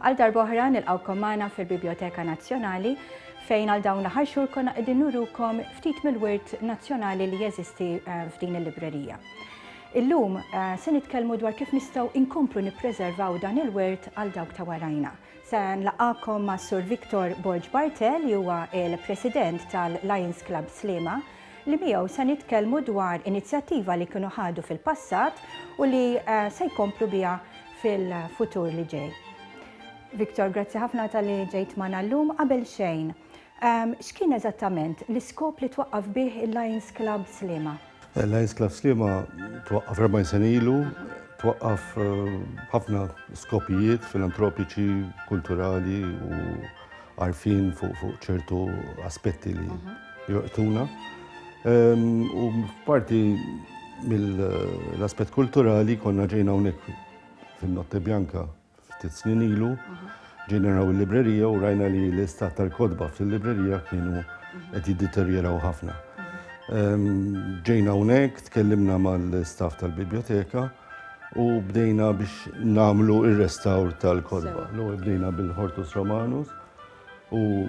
Għal darboħra nilqawkom magħna fil-Biblioteka Nazzjonali fejn għal dawn l-aħħar xhur konna qegħdin nurukom ftit mill-wirt nazzjonali li jeżisti eh, f'din il-librerija. Illum eh, se nitkellmu dwar kif nistgħu inkomplu nippreservaw dan il-wirt għal dawk ta' warajna. Se nlaqgħakom ma' Sur Victor Borg Barte li huwa l-President tal-Lions Club Sliema li miegħu se nitkellmu dwar inizjattiva li kienu ħadu fil-passat u li se jkomplu biha fil-futur li ġej. Victor, grazzi ħafna talli ġejt magħna llum. Qabel xejn, X'kien eżattament l-iskop li twaqqaf bih il-Lions Club Sliema? Il-Lions Club Sliema twaqqaf 40 sena ilu, twaqqaf b'ħafna skopijiet filantropiċi, kulturali u għarfien fuq ċertu aspetti li jorbtuna. U parti mill-aspett kulturali konna ġejna hawnhekk fin-Notte Bianca, Ftit snin ilu ġejna naraw il-librerija u rajna li l-istat tal-kodba fil-librerija kienu qed jiddeterjeraw ħafna. Ehm, ġejna hawnhekk, tkellimna mal-staff tal-biblioteka u bdejna biex namlu ir-restawr tal-kodba. L-ewwel bdejna bil-Hortus Romanus U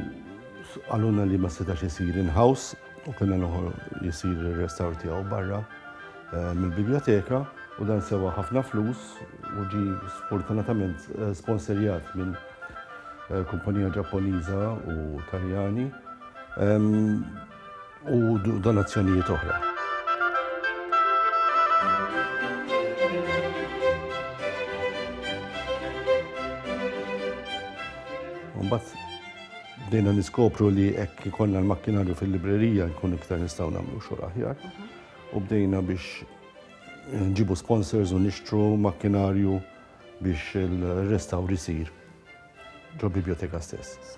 qalulna li ma setax isir in-house u kien għal isir ir-restawr tiegħu barra eh, mill-biblioteka u dan sewa ħafna flus u ġi sfortunatament eh, sponsorjat minn eh, kumpanija Ġapponiża u Taljani. Ehm, u donazzjonijiet oħra. Mbagħad bdejna niskopru li hekk ikollna l-makkinarju fil-librerija nkun iktar nistgħu nagħmlu xogħol aħjar. U bdejna biex nġibu sponsors u nixtru makkinarju biex il-restawr isir ġo biblioteka stess.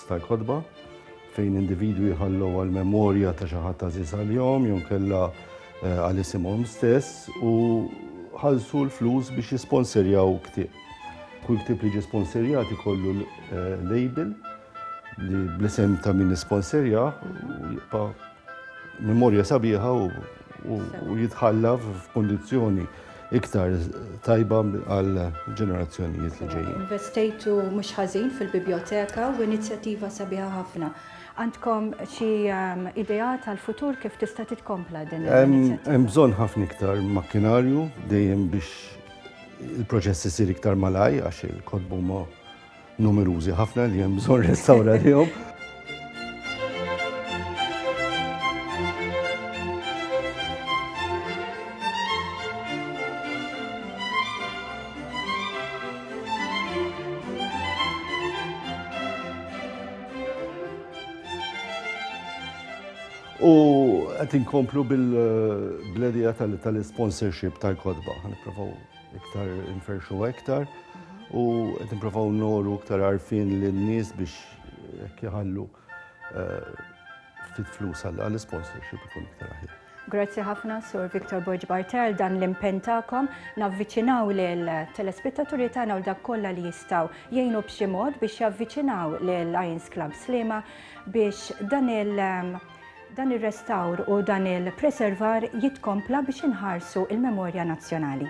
tal-kotba, fejn individwi jħallu għall-memorja ta' xi ħadd għażiż għalihom jew inkella għal isimhom stess u ħallsu l-flus biex jisponserjaw ktieb. Kull ktieb li ġie sponserjat ikollu label li bl-isem ta' min isponserja jibqa' Memorja sabiħa u jitħalla f'kondizjoni iktar tajba għal ġenerazzjonijiet li ġejjin. Investejtu mhux ħażin fil-biblioteka u inizjattiva sabiħa ħafna. Għandkom xi ehm, idea tal-futur kif tista' titkompla din l-inizjattiva? Hemm bżonn ħafna iktar makkinarju dejjem biex il-proċess isir iktar malaj għax il-kodbu ma' Numerużi ħafna li hemm bżonn restawra lihom. U qed inkomplu bil-bledija tal-sponsorship tal-kodba, ħanipprovaw Iktar nferxu iktar u qed nipprovaw noru iktar għarfien lin-nies biex jekk jħallu eh, ftit flus għal sponsorship ikun iktar aħjar. Grazzi ħafna Sur Victor Borg Bartel dan l-impen tagħkom navviċinaw lil telespettaturi tagħna u dak kollha li jistgħu jgħinu b'xi mod biex javviċinaw lil Lions Club Slima biex dan il- Dan ir-restawr u dan il-preservar jitkompla biex inħarsu l-memorja nazzjonali.